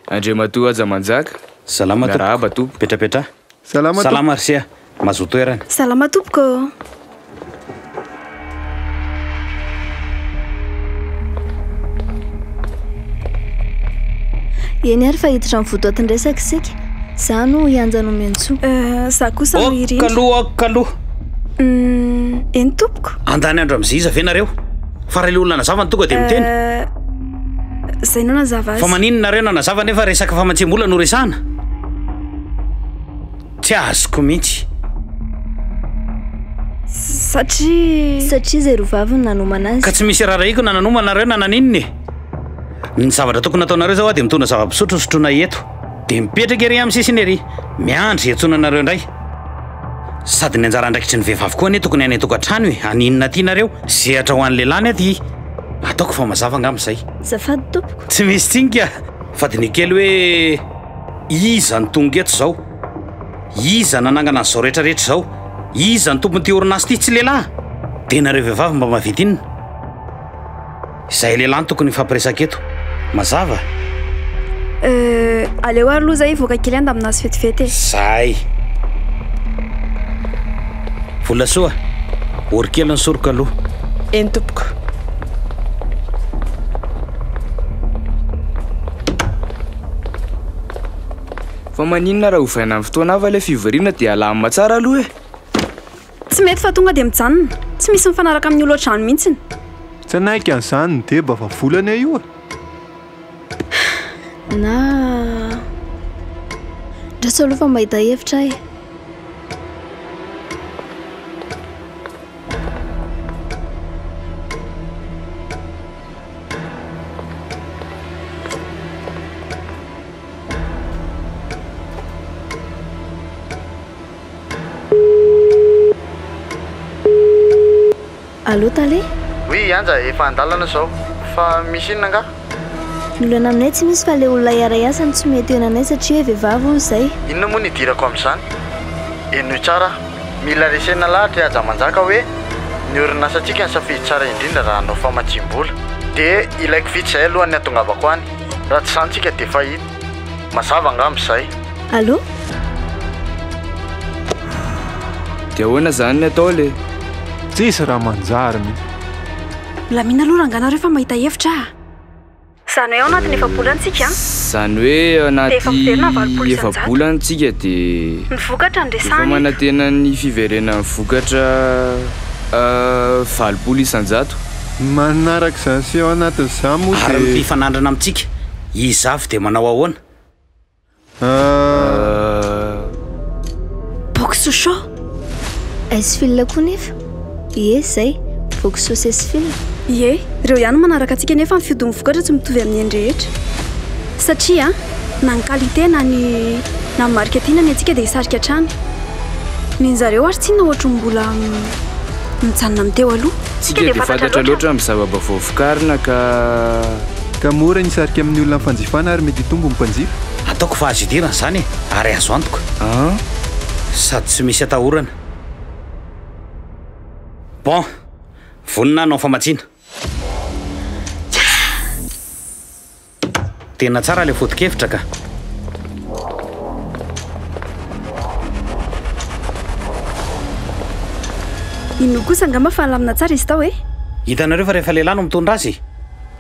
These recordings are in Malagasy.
Andriamatoa Haja Manjaka, miarahaba tompoko. Petrapetraha. Salama tompoko. Salama ry seha, mazoa toerana. Salama tompoko. Eny ary fa hiditra amin'ny votoatin-dresaka isika. Izaho no hianja no omeo ny soa. Euh, izaho kosa no hirindra. Aoka aloha, aoka aloha. Humm, eny tompoko. Andany andro amin'izay iza ve nareo? Fa raha ilay olona nazava no tonga dia miteny. Euh. Zay nanazava azy. Fa maninona nareo nanazava nefa resaka famatsiam-bola no resahana? Tsy azoko mihitsy. Satria. Satria izay roa vavy no nanomana azy. Ka tsy misy raharahiako na nanomana nareo na naninona e! Ny zavatra tokony ataonareo zao a dia mitondra zava-pisotro hosotroina eto. Dia mipetraka ery amin'ny sisiny ery, miandry hiantsoana anareo indray. Sady ny anjara andraikitry ny vehivavy koa anie tokony any an-tokantrano e! Aninona aty nareo? Sehatra ho an'ny lehilahy ny aty. Ataoko fa mazava angamba izay. Zafady tompoko. Tsy misy tsinga fa diniho kely hoe iza no tonga eto izao? Iza nanangana an'izao rehetrarehetra izao? Iza ny tompon'ity orinasa ity? Tsy lehilahy? Dia nareo vehivavy mba mahavita inona? Izahay lehilahy no tokony hifampiresaka eto. Mazava? Euh, aleo ary aloha izay hivoaka kely any ndaminazy vetivety e! Zay! Volasoa, ory kely ny soroka aloha. Eny tompoko. Fa maninona raha ovaina amin'ny fotoana hafa ilay fivoriana dia alamina tsara aloha e! Tsy mety fa tonga dia mijanona. Tsy misy mifanaraka amin'ny olodrano mihitsiny. Tsy hanaiky an'izany ny deba fa volana io e! Na Misaotra aloha fa mahita hevitra aho e! Allô Tale? Oui Anja efa andalana zao. Fa misy inona angaha? Ny olana aminay tsy misy fa ilay olona hiara hiasa no tsy mety eo henanay satria hoe vehivavy hono izay. Inona moa no hidirako amin'izany? Henoy tsara aho. Mila resena lahatra i Haja Manjaka hoe ny orinasantsika nisafidy tsara indrindra raha hanao famatsiam-bola. Dia ilaiko vitsy izay alohan'ny hatongavako any. Raha tsy izany tsika dia fahita. Mazava angamba izay. Allô? Dia ahoana izany ny atao le? Tsisy raha manjary mihitsy. Milamina aloha rangah nareo fa mahita hevitra ah. Izany hoe ao anatin'ny efa-bolana isika an! Izany hoe ao anaty efa-bolana isika dia. Ny vokatra no resahana eto. Efa manantena ny fiverenan'ny vokatra valopolo isan-jato. Manaraka izany sy ao anatin'izany moa dia. Ary ny fifanandrana amintsika. Izafy dia manao ahoana? Boky Sochaux? Est-ce fil koa nefa? Ie izay, boky Sochaux et fil. Ie, ireo ihany no manaraka antsika nefa ny fiodin'ny vokatra tsy mitovy amin'ny eny rehetra. Satria na ny qualité na ny na ny marika tiana ny antsika dia hisarika hatrany. Ny an'zareo ary tsinona ohatry ny mbola mijanona amin'ny teo aloha. Tsika dia fantatra loatra amin'ny zava-baovao vokarina ka. Ka mora ny hisarika amin'ny olona ny fanjifana ary mety hitombo ny mpanjifa. Ataoko fa azo idirana izany e! Ary azo antoka. An! Sady tsy misy atahorana. Bon! Vonona hanao famatsiana. Tena tsara ilay foto-kevitra ka! Inoako kosa angamba fa nilamina tsara izy tao e! Hitanareo fa rehefa lehilahy no mitondra azy e!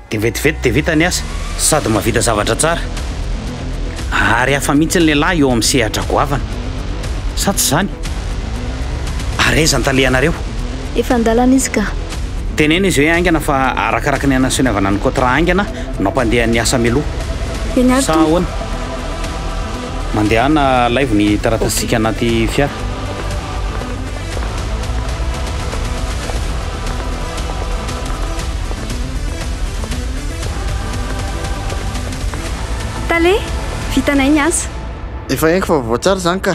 Dia vetivety dia vita ny asa, sady mahavita zavatra tsara. Ary hafa mihitsy ny lehilahy eo amin'ny sehatra goavana. Sa tsy izany? Ary aiza ny talehanareo? Efa an-dalana izy ka. Teneno izy hoe haingana fa arakaraka ny anasoniavana ny kotra haingana no ampandeha ny asa mialoha. Eny ary Sa ahoana? Mandehana alaivo ny taratasintsika anaty fiara. Tale, vitanay ny asa. Efa henoko fa vaovao tsara izany ka.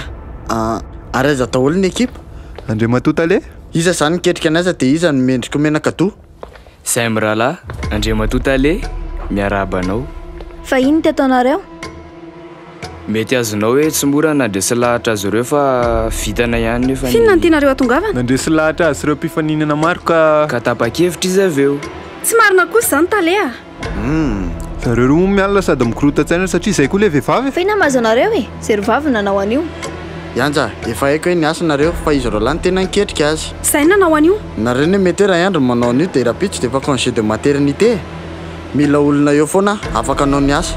Ary aiza daholo ny ekipa? Andriamatoa Tale. Iza izany miketrika ny asa dia iza no mendrika ho menak'adoha? Izay mirahalahy, Andriamatoa Tale, miarahaba anao. Fa inona teto anareo? Mety azonao hoe tsy mora ny nandresy lahatra azy ireo fa vitana ihany nefa ny. F'inona no tianareo hatongavana? Nandresy lahatra azy ireo mpifaninana maro ka. Ka tapa-kevitra izy avy eo. Tsy marina kosa izany Tale a! Humm, zareo roa moa miala sady mikorontan-tsaina satria izay koa ilay vehivavy e! Fa inona mahazo anareo e? Zero vavy no nanao an'io. Yanja, efa haiko hoe niasa nareo fa izy roalahy no tena niketrika azy. Zay no nanao an'io. Nareo anie mety hoe raha i Andry no manao an'io dia rahampitso dia efa congé de maternité e! Mila olona eo foana afaka hanao ny asa.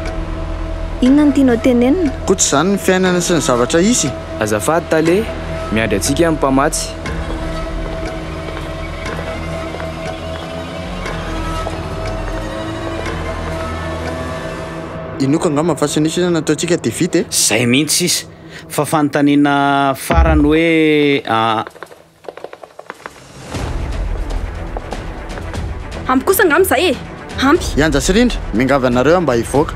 Inona no tianao tenenina? Koa tsy izany ny fiainana sy ny zavatra hisy e! Azafady Tale, miandry antsika ny mpamatsy. Inoako angamba fa tsy nisy inona nataontsika dia vita e! Zay mihitsy sisa fa fanontaniana farany hoe a. Ampy kosa angamba izay e! Ampy. Yanja sy Rindra, miangavy anareo aho mba hivoaka.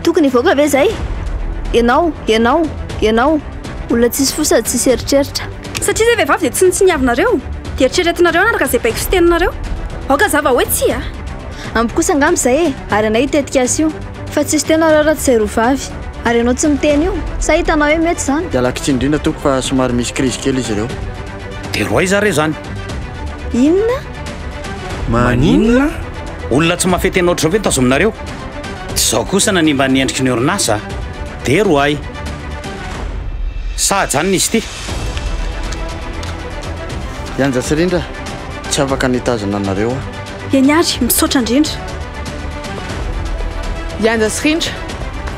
Tokony hivoaka ve izay? Ianao, ianao, ianao, olona tsisy fo sady tsisy eritreritra. Satria izay vehivavy dia tsy nitsiniavinareo, dia eritreretinareo hanaraka izay baiko sy teninareo. Aoka zava hoe tsia a! Ampy kosa angamba izay e! Ary anay io tetikasa io, fa tsisy teo nareo raha tsy izay roa vavy. Ary ianao tsy miteny io, sa hitanao hoe mety izany? Iala kitsiny indrindra tompoko fa somary misy krizy kely izy ireo. Dia roa aiza re izany? Inona? Maninona? Olona tsy mahafehy tena ohatr'izao ve tazominareo? Tsy izao kosa nanimba ny endriky ny orinasa. Dera ho ahy. Sa ajanona izy ity? Yanja sy Rindra, tsy afaka ny hitazona anareo aho. Eny ary, misaotra indrindra. Yanja sy Rindra,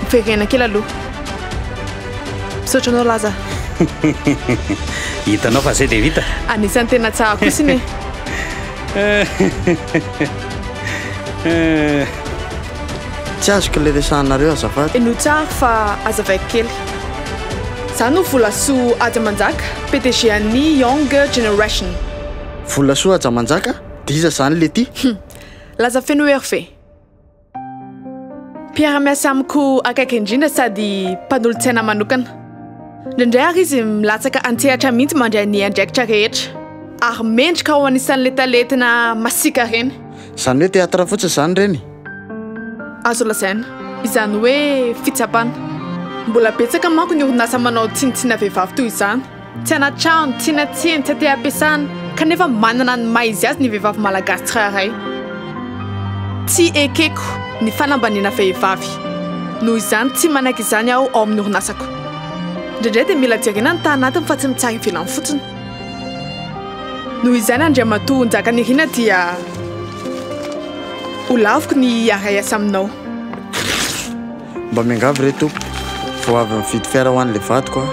miverena kely aloha. Misaotra anao Laza. Hitanao fa zay dia vita. Anisan'ny tena tsara kosa iny. Tsy azoko le resahanareo azafady. E no tsara fa azavaiko kely. Za no Volasoa Haja Manjaka, PDG an'ny Young Generation. Volasoa Haja Manjaka? D'iza zany le ty? Hum. Laza feno hery ve? Mpiara-miasa amiko akaiky indrindra sady mpanolotsaina manokana. Indraindray ary izy milatsaka an-tsehatra mihitsy mandray ny andraikitra rehetra, ary mendrika ao anisan'ilay talentina masiaka ireny. Izany hoe teatra fotsiny izany ireny? Azo lazaina. Izany hoe fitsapana. Mbola betsaka manko ny orinasa manao tsinontsinona vehivavy toy izany. Tsy anatrano, tsy natsiny, tsy ateampiasana, kanefa manana ny maha izy azy ny vehivavy malagasy tsirairay. Tsy ekeko ny fanambaniana vehivavy. Noho izany, tsy manaiky izany aho ao amin'ny orinasako. Indraindray dia mila jerena ny tany anatiny fa tsy ny tsary ivelany fotsiny. Noho izany, Andriamatoa Njakanirina, dia ho laviko ny hiara-hiasa aminao. Mba miangavy re Tompoko vao avy mividy fiara ho an'ilay vadiko aho.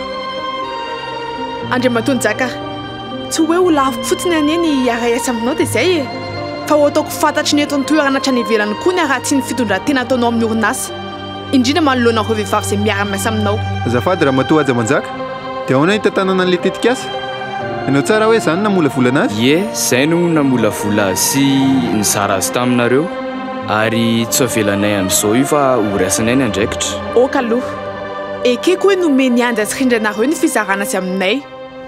Andriamatoa Njaka a! Tsy hoe ho laviko fotsiny anie ny hiara-hiasa aminao dia izay e! Fa ho ataoko fantatry ny eto an-toerana hatrany ivelany koa ny haratsian'ny fitondran-tena ataonao amin'ny orinasa, indrindra manoloana ireo vehivavy izay miara-miasa aminao. Azafady Ramatoa Haja Manjaka, dia ahoana ny hitantanana an'ilay tetikasa? Hainao tsara hoe izaho no namolavolana azy? Ie, izay no namolavola azy sy nizara azy taminareo. Ary tsy avelanay amin'izao io fa ho raisinay ny andraikitra. Ok aloha. Ekeko hoe nomen'i Andry Atsirindry anareo ny fizarana azy aminay.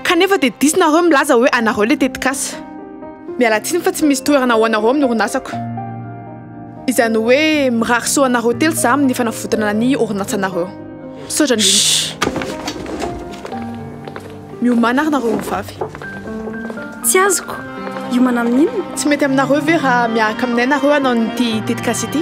Kanefa dia diso nareo milaza hoe anareo ilay tetikasa. Miala tsiny fa tsy misy toerana ho anareo amin'ny orinasako. Izany hoe mirary soa anareo telo za amin'ny fanavotana ny orinasanareo. Misaotra indrindra. Miomana ary nareo ho vavy. Tsy azoko! Hiomana amin inona? Tsy mety aminareo ve raha miahaka aminay nareo hanao ny ity tetikasa ity?